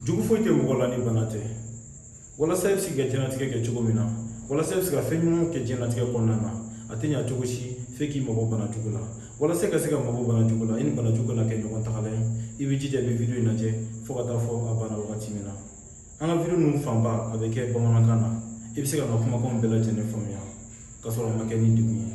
jugu foyi tɛ mɔgɔ la ni bana tɛ walasa i bɛ se k'i ka diɲɛlatigɛ kɛ cogo min na walasa i bɛ se ka fɛn ɲumanw kɛ diɲɛlatigɛ kɔnɔna na a tɛ ɲa cogo si f'e k'i mabɔ bana jugu la walasa i ka se ka mabɔ bana jugu la i ni bana jugu kana kɛ ɲɔgɔn tagala ye i bɛ jija i bɛ video in lajɛ fo ka taa fo a banna wagati min na an ka video ninnu fanba a bɛ kɛ bamanankan na i bɛ se ka n ka kumakanw bɛɛ lajɛlen faamuya ka sɔrɔ a ma kɛ ni degun ye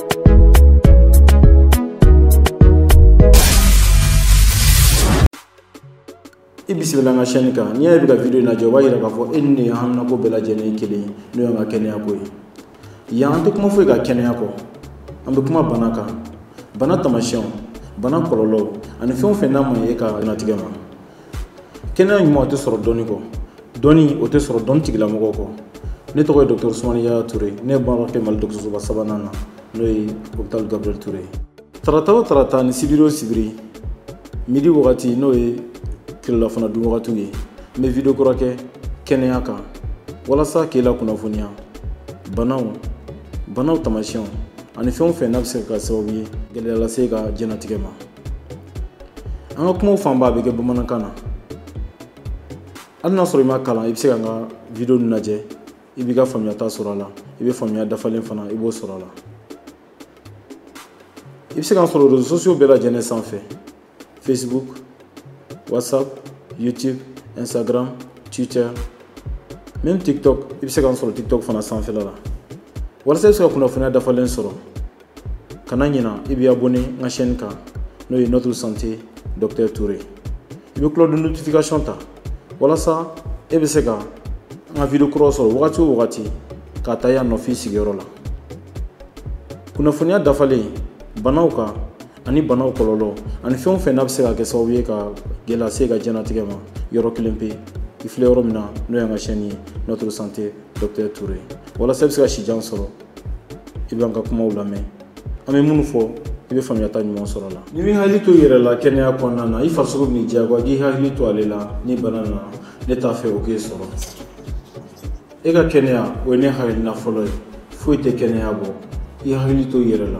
i bisimila n ka chaîne kan n'i y'a ye bɛ ka video in lajɛ o b'a yira k'a fɔ e ni ne haminako bɛɛ lajɛlen ye kelen ye n'o y'an ka kɛnɛya ko ye yan an tɛ kuma foyi kan kɛnɛya kɔ an bɛ kuma bana kan bana taamasiyɛnw bana kɔlɔlɔw ani fɛn o fɛn n'a man ɲi e ka diɲɛlatigɛ ma kɛnɛya ɲuman o tɛ sɔrɔ dɔnni kɔ dɔnni o tɛ sɔrɔ dɔnni tigilamɔgɔw kɔ ne tɔgɔ ye dɔgɔtɔrɔ usumani yaya ture ne ye baara kɛ mali dɔgɔtɔrɔsoba sabanan na n'o ye hôpital gabriel ture ye tarata o tarata ni sibiri o sibiri midi wagati n'o ye tilelafana dun wagatiw ye n bɛ video kura kɛ kɛnɛya kan walasa k'e la kunnafoniya banaw banaw taamasiyɛnw ani fɛn o fɛn n'a bɛ se ka kɛ sababu ye gɛlɛya lase i ka diɲɛnatigɛ ma an ka kumaw fanba bɛ kɛ bamanankan na hali n'a sɔrɔ i ma kalan i bɛ se ka n ka video ninnu lajɛ i b'i ka faamuyata sɔrɔ a la i bɛ faamuya dafalen fana i b'o sɔrɔ a la i bɛ se k'an sɔrɔ réseaux sociaux bɛɛ lajɛlen sanfɛ facebook whatsapp youtube instagram twitter même tiktok i bɛ se k'an sɔrɔ tiktok fana sanfɛla la walasa i bɛ se ka kunnafoniya dafalen sɔrɔ kana ɲina i b'i abonné n ka chaîne kan n'o ye notre santé docteur Toure i bɛ cloche de notification ta walasa e bɛ se ka n ka video kuraw sɔrɔ wagati o wagati k'a ta yan nɔ f'i sigiyɔrɔ la kunnafoniya dafalen banaw kan ani banaw kɔlɔlɔ ani fɛn o fɛn n'a bɛ se ka kɛ sababu ye ka gɛlɛya se i ka diɲɛnatigɛ ma yɔrɔ kelen pe i filɛ yɔrɔ min na n'o y'an ka chaîne ye notre santé docteur Toure walasa i bɛ se ka sijan sɔrɔ i b'an ka kumaw lamɛn an bɛ minnu fɔ i bɛ faamuyata ɲuman sɔrɔ a la n'i m'i hakili to i yɛrɛ la kɛnɛya kɔnɔna na i farisogo bɛn'i diyagoya k'i hakili to ale la ni bana na ne t'a fɛ o k'e sɔrɔ e ka kɛnɛya o ye ne hakilina fɔlɔ ye foyi tɛ kɛnɛya bɔ i hakili to i yɛrɛ la